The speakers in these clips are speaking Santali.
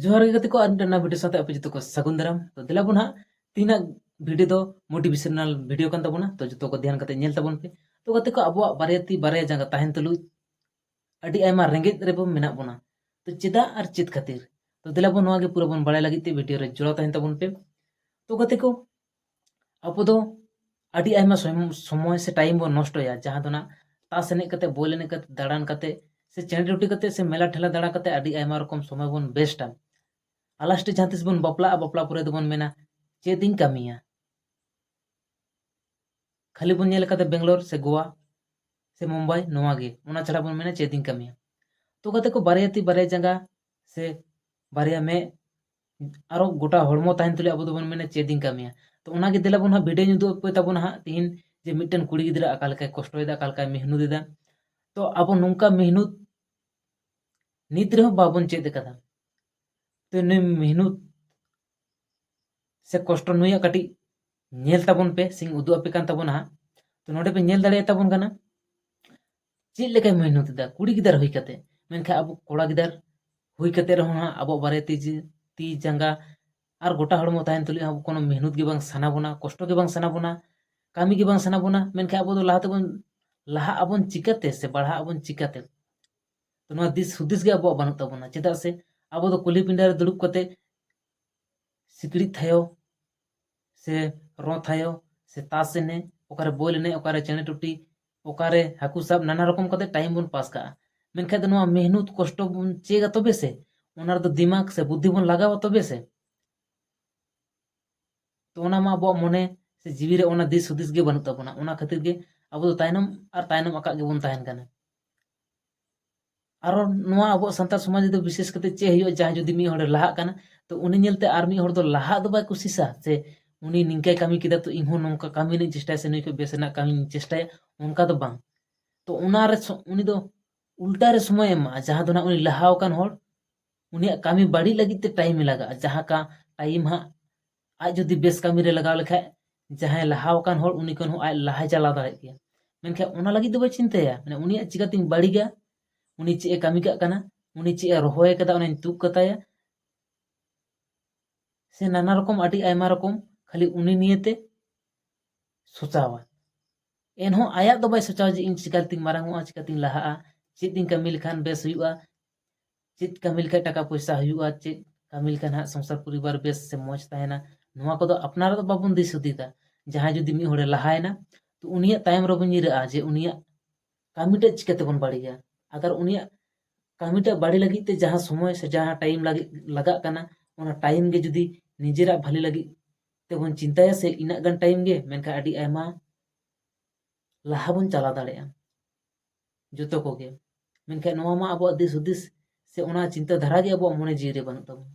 ᱡᱚᱦᱟᱨ ᱜᱮ ᱜᱟᱛᱮ ᱠᱚ ᱟᱨ ᱢᱤᱫᱴᱟᱝ ᱵᱷᱤᱰᱤᱭᱳ ᱥᱟᱶᱛᱮ ᱟᱯᱮ ᱡᱚᱛᱚ ᱠᱚ ᱥᱟᱹᱜᱩᱱ ᱫᱟᱨᱟᱢ ᱛᱚ ᱫᱮᱞᱟ ᱵᱚᱱ ᱦᱟᱸᱜ ᱛᱤᱱᱟᱹᱜ ᱵᱷᱤᱰᱤᱭᱳ ᱫᱚ ᱢᱳᱴᱤᱵᱷᱮᱥᱚᱱᱟᱞ ᱵᱷᱤᱰᱤᱭᱳ ᱠᱟᱱ ᱛᱟᱵᱚᱱᱟ ᱛᱚ ᱡᱚᱛᱚ ᱠᱚ ᱫᱷᱮᱭᱟᱱ ᱠᱟᱛᱮ ᱧᱮᱞ ᱛᱟᱵᱚᱱ ᱯᱮ ᱛᱚ ᱜᱟᱛᱮ ᱠᱚ ᱟᱵᱚᱣᱟᱜ ᱵᱟᱨᱭᱟ ᱛᱤ ᱵᱟᱨᱭᱟ ᱡᱟᱸᱜᱟ ᱛᱟᱦᱮᱱ ᱛᱩᱞᱩᱡ ᱟᱹᱰᱤ ᱟᱭᱢᱟ ᱨᱮᱸᱜᱮᱡ ᱨᱮᱵᱚ ᱢᱮᱱᱟᱜ ᱵᱚᱱᱟ ᱛᱚ ᱪᱮᱫᱟᱜ ᱟᱨ ᱪᱮᱫ ᱠᱷᱟᱹᱛᱤᱨ ᱛᱚ ᱫᱮᱞᱟ ᱵᱚᱱ ᱱᱚᱣᱟ ᱜᱮ ᱯᱩᱨᱟᱹ ᱵᱚᱱ ᱵᱟᱲᱟᱭ ᱞᱟᱹᱜᱤᱫ ᱛᱮ ᱵᱷᱤᱰᱤᱭᱳ ᱨᱮ ᱡᱚᱲᱟᱣ ᱛᱟᱦᱮᱱ ᱛᱟᱵᱚᱱ ᱯᱮ ᱛᱚ ᱜᱟᱛᱮ ᱠᱚ ᱟᱵᱚ ᱫᱚ ᱟᱹᱰᱤ ᱟᱭᱢᱟ ᱥᱚᱢᱚᱭ ᱥᱮ ᱴᱟᱭᱤᱢ ᱵᱚᱱ ᱱᱚᱥᱴᱚᱭᱟ ᱡᱟᱦᱟᱸ ᱫᱚ ᱱᱟᱜ ᱛᱟᱥ ᱮᱱᱮᱡ ᱠᱟᱛᱮ ᱵᱚᱞ ᱮᱱᱮᱡ ᱠᱟᱛᱮ ᱫᱟᱬᱟᱱ ᱠᱟᱛᱮ ᱥᱮ ᱪᱮᱬᱮ ᱰᱩᱴᱤ ᱠᱟᱛᱮ ᱥᱮ ᱢᱮᱞᱟ ᱴᱷᱮᱞᱟ ᱫᱟᱬᱟ ᱠᱟᱛᱮ ᱟᱹᱰᱤ ᱟᱭᱢᱟ ᱨᱚᱠᱚᱢ ᱥᱚᱢᱚᱭ ᱵᱚᱱ ᱵᱮᱥᱴᱟ ᱟᱞᱟᱥᱴᱮ ᱡᱟᱦᱟᱸ ᱛᱤᱥ ᱵᱚᱱ ᱵᱟᱯᱞᱟᱜᱼᱟ ᱵᱟᱯᱞᱟ ᱯᱚᱨᱮ ᱫᱚᱵᱚᱱ ᱢᱮᱱᱟ ᱪᱮᱫ ᱤᱧ ᱠᱟᱹᱢᱤᱭᱟ ᱠᱷᱟᱹᱞᱤ ᱵᱚᱱ ᱧᱮᱞ ᱠᱟᱫᱟ ᱵᱮᱝᱜᱟᱞᱳᱨ ᱥᱮ ᱜᱳᱣᱟ ᱥᱮ ᱢᱩᱢᱵᱟᱭ ᱱᱚᱣᱟ ᱜᱮ ᱚᱱᱟ ᱪᱷᱟᱲᱟ ᱵᱚᱱ ᱢᱮᱱᱟ ᱪᱮᱫ ᱤᱧ ᱠᱟᱹᱢᱤᱭᱟ ᱛᱚ ᱜᱟᱛᱮ ᱠᱚ ᱵᱟᱨᱭᱟ ᱛᱤ ᱵᱟᱨᱭᱟ ᱡᱟᱸᱜᱟ ᱥᱮ ᱵᱟᱨᱭᱟ ᱢᱮᱫ ᱟᱨᱚ ᱜᱚᱴᱟ ᱦᱚᱲᱢᱚ ᱛᱟᱦᱮᱱ ᱛᱩᱞᱩᱡ ᱟᱵᱚ ᱫᱚᱵᱚᱱ ᱢᱮᱱᱟ ᱪᱮᱫ ᱤᱧ ᱠᱟᱹᱢᱤᱭᱟ ᱛᱚ ᱚᱱᱟᱜᱮ ᱫᱮᱞᱟ ᱵᱚᱱ ᱦᱟᱸᱜ ᱵᱷᱤᱰᱤᱭᱳᱧ ᱩᱫᱩᱜ ᱟᱯᱮ ᱛᱟᱵᱚᱱᱟ ᱦᱟᱸᱜ ᱛᱤᱦᱤᱧ ᱡᱮ ᱢᱤᱫᱴᱮᱱ ᱠᱩᱲᱤ ᱜᱤᱫᱽᱨᱟᱹ ᱟᱠᱟ ᱞᱮᱠᱟᱭ ᱠᱚᱥᱴᱚᱭᱮᱫᱟ ᱟᱠᱟ ᱞᱮᱠᱟᱭ ᱢᱮᱦᱱᱩᱛ ᱮᱫᱟ ᱛᱚ ᱟᱵᱚ ᱱᱚᱝᱠᱟ ᱢᱮᱦᱱᱩᱛ ᱱᱤᱛ ᱨᱮᱦᱚᱸ ᱵᱟᱵᱚᱱ ᱪᱮᱫ ᱟᱠᱟᱫᱟ ᱛᱚ ᱱᱩᱭ ᱢᱮᱦᱱᱩᱛ ᱥᱮ ᱠᱚᱥᱴᱚ ᱱᱩᱭᱟᱜ ᱠᱟᱹᱴᱤᱡ ᱧᱮᱞ ᱛᱟᱵᱚᱱ ᱯᱮ ᱥᱮᱧ ᱩᱫᱩᱜ ᱟᱯᱮ ᱠᱟᱱ ᱛᱟᱵᱚᱱᱟ ᱦᱟᱸᱜ ᱛᱚ ᱱᱚᱰᱮ ᱯᱮ ᱧᱮᱞ ᱫᱟᱲᱮᱭᱟ ᱛᱟᱵᱚᱱ ᱠᱟᱱᱟ ᱪᱮᱫ ᱞᱮᱠᱟᱭ ᱢᱮᱦᱱᱚᱛ ᱮᱫᱟ ᱠᱩᱲᱤ ᱜᱤᱫᱟᱹᱨ ᱦᱩᱭ ᱠᱟᱛᱮ ᱢᱮᱱᱠᱷᱟᱱ ᱟᱵᱚ ᱠᱚᱲᱟ ᱜᱤᱫᱟᱹᱨ ᱦᱩᱭ ᱠᱟᱛᱮ ᱨᱮᱦᱚᱸ ᱦᱟᱸᱜ ᱟᱵᱚᱣᱟᱜ ᱵᱟᱨᱭᱟ ᱛᱤ ᱛᱤ ᱡᱟᱸᱜᱟ ᱟᱨ ᱜᱚᱴᱟ ᱦᱚᱲᱢᱚ ᱛᱟᱦᱮᱱ ᱛᱩᱞᱩᱡ ᱦᱚᱸ ᱠᱳᱱᱳ ᱢᱮᱦᱱᱚᱛ ᱜᱮ ᱵᱟᱝ ᱥᱟᱱᱟ ᱵᱚᱱᱟ ᱠᱚᱥᱴᱚ ᱜᱮ ᱵᱟᱝ ᱥᱟᱱᱟ ᱵᱚᱱᱟ ᱠᱟᱹᱢᱤ ᱜᱮ ᱵᱟᱝ ᱥᱟᱱᱟ ᱵᱚᱱᱟ ᱢᱮᱱᱠᱷᱟᱱ ᱟᱵᱚ ᱫᱚ ᱞᱟᱦᱟ ᱛᱮᱵᱚᱱ ᱞᱟᱦᱟᱜ ᱟᱵᱚᱱ ᱪᱤᱠᱟᱹᱛᱮ ᱥᱮ ᱵᱟᱲᱦᱟᱜ ᱟᱵᱚᱱ ᱪᱤᱠᱟᱹᱛᱮ ᱛᱚ ᱱᱚᱣᱟ ᱫᱤᱥ ᱦᱩᱫᱤᱥ ᱜᱮ ᱟᱵᱚᱣᱟᱜ ᱵᱟᱹᱱᱩᱜ ᱛᱟᱵᱚᱱᱟ ᱪᱮᱫᱟᱜ ᱥᱮ ᱟᱵᱚ ᱫᱚ ᱠᱩᱞᱦᱤ ᱯᱤᱸᱰᱟᱹ ᱨᱮ ᱫᱩᱲᱩᱵ ᱠᱟᱛᱮ ᱥᱤᱠᱲᱤᱡ ᱛᱷᱟᱭᱚ ᱥᱮ ᱨᱚᱸ ᱛᱷᱟᱭᱚ ᱥᱮ ᱛᱟᱥ ᱮᱱᱮᱡ ᱚᱠᱟᱨᱮ ᱵᱚᱞ ᱮᱱᱮᱡ ᱚᱠᱟᱨᱮ ᱪᱮᱬᱮ ᱴᱩᱴᱤ ᱚᱠᱟᱨᱮ ᱦᱟᱹᱠᱩ ᱥᱟᱵ ᱱᱟᱱᱟ ᱨᱚᱠᱚᱢ ᱠᱟᱛᱮ ᱴᱟᱭᱤᱢ ᱵᱚᱱ ᱯᱟᱥ ᱠᱟᱜᱼᱟ ᱢᱮᱱᱠᱷᱟᱡ ᱫᱚ ᱱᱚᱣᱟ ᱢᱮᱦᱱᱩᱛ ᱠᱚᱥᱴᱚ ᱵᱚᱱ ᱪᱮᱫᱟ ᱛᱚᱵᱮ ᱥᱮ ᱚᱱᱟ ᱨᱮᱫᱚ ᱫᱤᱢᱟᱜᱽ ᱥᱮ ᱵᱩᱫᱽᱫᱷᱤ ᱵᱚᱱ ᱞᱟᱜᱟᱣᱟ ᱛᱚᱵᱮ ᱥᱮ ᱛᱚ ᱚᱱᱟ ᱢᱟ ᱟᱵᱚᱣᱟᱜ ᱢᱚᱱᱮ ᱥᱮ ᱡᱤᱣᱤ ᱨᱮ ᱚᱱᱟ ᱫᱤᱥ ᱦᱩᱫᱤᱥ ᱜᱮ ᱵᱟᱹᱱᱩᱜ ᱛᱟᱵᱚᱱᱟ ᱚᱱᱟ ᱠᱷᱟᱹᱛᱤᱨ ᱜᱮ ᱟᱵᱚ ᱫᱚ ᱛᱟᱭᱱᱚᱢ ᱟᱨ ᱛᱟᱭᱱᱚᱢ ᱟᱠᱟᱫ ᱜᱮᱵᱚᱱ ᱛᱟᱦᱮᱱ ᱠᱟᱱᱟ ᱟᱨᱚ ᱱᱚᱣᱟ ᱟᱵᱚ ᱥᱟᱱᱛᱟᱲ ᱥᱚᱢᱟᱡᱽ ᱨᱮᱫᱚ ᱵᱤᱥᱮᱥ ᱠᱟᱛᱮ ᱪᱮᱫ ᱦᱩᱭᱩᱜᱼᱟ ᱡᱟᱦᱟᱸᱭ ᱡᱩᱫᱤ ᱢᱤᱫ ᱦᱚᱲᱮ ᱞᱟᱦᱟᱜ ᱠᱟᱱᱟ ᱛᱚ ᱩᱱᱤ ᱧᱮᱞᱛᱮ ᱟᱨ ᱢᱤᱫ ᱦᱚᱲ ᱫᱚ ᱞᱟᱦᱟᱜ ᱫᱚ ᱵᱟᱭ ᱠᱩᱥᱤᱥᱟ ᱥᱮ ᱩᱱᱤ ᱱᱤᱝᱠᱟᱹᱭ ᱠᱟᱹᱢᱤ ᱠᱮᱫᱟ ᱛᱚ ᱤᱧ ᱦᱚᱸ ᱱᱚᱝᱠᱟ ᱠᱟᱹᱢᱤ ᱨᱮᱱᱟᱜ ᱪᱮᱥᱴᱟᱭᱟ ᱥᱮ ᱱᱩᱭ ᱠᱷᱚᱱ ᱵᱮᱥ ᱨᱮᱱᱟᱜ ᱠᱟᱹᱢᱤᱧ ᱪᱮᱥᱴᱟᱭᱟ ᱚᱱᱠᱟ ᱫᱚ ᱵᱟᱝ ᱛᱚ ᱚᱱᱟᱨᱮ ᱩᱱᱤ ᱫᱚ ᱩᱞᱴᱟ ᱨᱮ ᱥᱚᱢᱚᱭᱮ ᱮᱢᱟᱜᱼᱟ ᱡᱟᱦᱟᱸ ᱫᱚ ᱱᱟᱜ ᱩᱱᱤ ᱞᱟᱦᱟᱣ ᱟᱠᱟᱱ ᱦᱚᱲ ᱩᱱᱤᱭᱟᱜ ᱠᱟᱹᱢᱤ ᱵᱟᱹᱲᱤᱡ ᱞᱟᱹᱜᱤᱫ ᱛᱮ ᱴᱟᱭᱤᱢᱮ ᱞᱟᱜᱟᱜᱼᱟ ᱡᱟᱦᱟᱸ ᱠᱟ ᱴᱟᱭᱤᱢ ᱦᱟᱸᱜ ᱟᱡ ᱡᱩᱫᱤ ᱵᱮᱥ ᱠᱟᱹᱢᱤ ᱨᱮ ᱞᱟᱜᱟᱣ ᱞᱮᱠᱷᱟᱡ ᱡᱟᱦᱟᱸᱭ ᱞᱟᱦᱟᱣ ᱟᱠᱟᱱ ᱦᱚᱲ ᱩᱱᱤ ᱠᱷᱚᱱ ᱦᱚᱸ ᱟᱡ ᱞᱟᱦᱟᱭ ᱪᱟᱞᱟᱣ ᱫᱟᱲᱮᱭᱟᱜ ᱜᱮᱭᱟ ᱢᱮᱱᱠᱷᱟᱱ ᱚᱱᱟ ᱞᱟᱹᱜᱤᱫ ᱫᱚ ᱵᱟᱭ ᱪᱤᱱᱛᱟᱹᱭᱟ ᱢᱟᱱᱮ ᱩᱱᱤᱭᱟᱜ ᱪᱤᱠᱟᱹᱛᱤᱧ ᱵᱟᱹᱲᱤᱡᱟ ᱩᱱᱤ ᱪᱮᱫ ᱮ ᱠᱟᱹᱢᱤ ᱠᱟᱜ ᱠᱟᱱᱟ ᱩᱱᱤ ᱪᱮᱫ ᱮ ᱨᱚᱦᱚᱭ ᱠᱟᱫᱟ ᱚᱱᱟᱧ ᱛᱩᱫ ᱠᱟᱛᱟᱭᱟ ᱥᱮ ᱱᱟᱱᱟ ᱨᱚᱠᱚᱢ ᱟᱹᱰᱤ ᱟᱭᱢᱟ ᱨᱚᱠᱚᱢ ᱠᱷᱟᱹᱞᱤ ᱩᱱᱤ ᱱᱤᱭᱮᱛᱮ ᱥᱚᱪᱟᱣᱟ ᱮᱱᱦᱚᱸ ᱟᱭᱟᱜ ᱫᱚ ᱵᱟᱭ ᱥᱚᱪᱟᱣᱟ ᱡᱮ ᱤᱧ ᱪᱤᱠᱟᱹᱛᱤᱧ ᱢᱟᱨᱟᱝᱚᱜᱼᱟ ᱪᱤᱠᱟᱹᱛᱤᱧ ᱞᱟᱦᱟᱜᱼᱟ ᱪᱮᱫ ᱤᱧ ᱠᱟᱹᱢᱤ ᱞᱮᱠᱷᱟᱱ ᱵᱮᱥ ᱦᱩᱭᱩᱜᱼᱟ ᱪᱮᱫ ᱠᱟᱹᱢᱤ ᱞᱮᱠᱷᱟᱡ ᱴᱟᱠᱟ ᱯᱚᱭᱥᱟ ᱦᱩᱭᱩᱜᱼᱟ ᱪᱮᱫ ᱠᱟᱹᱢᱤ ᱞᱮᱠᱷᱟᱱ ᱦᱟᱸᱜ ᱥᱚᱝᱥᱟᱨ ᱯᱚᱨᱤᱵᱟᱨ ᱵᱮᱥ ᱥᱮ ᱢᱚᱡᱽ ᱛᱟᱦᱮᱱᱟ ᱱᱚᱣᱟ ᱠᱚᱫᱚ ᱟᱯᱱᱟᱨ ᱫᱚ ᱵᱟᱵᱚᱱ ᱫᱤᱥ ᱦᱩᱫᱤᱥᱟ ᱡᱟᱦᱟᱸᱭ ᱡᱩᱫᱤ ᱢᱤᱫ ᱦᱚᱲᱮ ᱞᱟᱦᱟᱭᱮᱱᱟ ᱛᱚ ᱩᱱᱤᱭᱟᱜ ᱛᱟᱭᱚᱢ ᱨᱮᱵᱚᱱ ᱧᱤᱨᱟᱜᱼᱟ ᱡᱮ ᱩᱱᱤᱭᱟᱜ ᱠᱟᱹᱢᱤᱴᱟᱜ ᱪᱤᱠᱟᱹᱛᱮᱵᱚᱱ ᱵᱟᱹᱲᱤᱡᱟ ᱟᱜᱟᱨ ᱩᱱᱤᱭᱟᱜ ᱠᱟᱹᱢᱤᱴᱟᱜ ᱵᱟᱹᱲᱤ ᱞᱟᱹᱜᱤᱫ ᱛᱮ ᱡᱟᱦᱟᱸ ᱥᱚᱢᱚᱭ ᱥᱮ ᱡᱟᱦᱟᱸ ᱴᱟᱭᱤᱢ ᱞᱟᱹᱜᱤᱫ ᱞᱟᱜᱟᱜ ᱠᱟᱱᱟ ᱚᱱᱟ ᱴᱟᱭᱤᱢ ᱜᱮ ᱡᱩᱫᱤ ᱱᱤᱡᱮᱨᱟᱜ ᱵᱷᱟᱹᱞᱤ ᱞᱟᱹᱜᱤᱫ ᱛᱮᱵᱚᱱ ᱪᱤᱱᱛᱟᱹᱭᱟ ᱥᱮ ᱤᱱᱟᱹᱜ ᱜᱟᱱ ᱴᱟᱭᱤᱢ ᱜᱮ ᱢᱮᱱᱠᱷᱟᱱ ᱟᱹᱰᱤ ᱟᱭᱢᱟ ᱞᱟᱦᱟ ᱵᱚᱱ ᱪᱟᱞᱟᱣ ᱫᱟᱲᱮᱭᱟᱜᱼᱟ ᱡᱚᱛᱚ ᱠᱚᱜᱮ ᱢᱮᱱᱠᱷᱟᱱ ᱱᱚᱣᱟ ᱢᱟ ᱟᱵᱚᱣᱟᱜ ᱫᱤᱥ ᱦᱩᱫᱤᱥ ᱥᱮ ᱚᱱᱟ ᱪᱤᱱᱛᱟᱹ ᱫᱷᱟᱨᱟ ᱜᱮ ᱟᱵᱚᱣᱟᱜ ᱢᱚᱱᱮ ᱡᱤᱣᱤ ᱨᱮ ᱵᱟᱹᱱᱩᱜ ᱛᱟᱵᱚᱱᱟ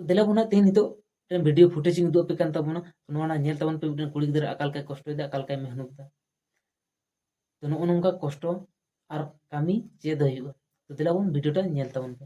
ᱫᱮᱞᱟ ᱵᱚᱱ ᱛᱮᱦᱮᱧ ᱱᱤᱛᱚᱜ ᱢᱤᱫᱴᱮᱱ ᱵᱷᱤᱰᱤᱭᱳ ᱯᱷᱩᱴᱮᱡᱽ ᱤᱧ ᱩᱫᱩᱜ ᱟᱯᱮ ᱠᱟᱱ ᱛᱟᱵᱚᱱᱟ ᱱᱚᱣᱟ ᱨᱮᱱᱟᱜ ᱧᱮᱞ ᱛᱟᱵᱚᱱ ᱯᱮ ᱢᱤᱫᱴᱮᱱ ᱠᱩᱲᱤ ᱜᱤᱫᱽᱨᱟᱹ ᱟᱠᱟ ᱞᱮᱠᱟᱭ ᱠᱚᱥᱴᱚᱭᱮᱫᱟ ᱟᱠᱟ ᱞᱮᱠᱟᱭ ᱢᱮᱦᱱᱚᱛ ᱮᱫᱟ ᱛᱚ ᱱᱚᱜᱼᱚ ᱱᱚᱝᱠᱟ ᱠᱚᱥᱴᱚ ᱟᱨ ᱠᱟᱹᱢᱤ ᱪᱮᱫ ᱦᱩᱭᱩᱜᱼᱟ ᱛᱚ ᱫᱮᱞᱟ ᱵᱚᱱ ᱵᱷᱤᱰᱤᱭᱳᱴᱟ ᱧᱮᱞ ᱛᱟᱵᱚᱱ ᱯᱮ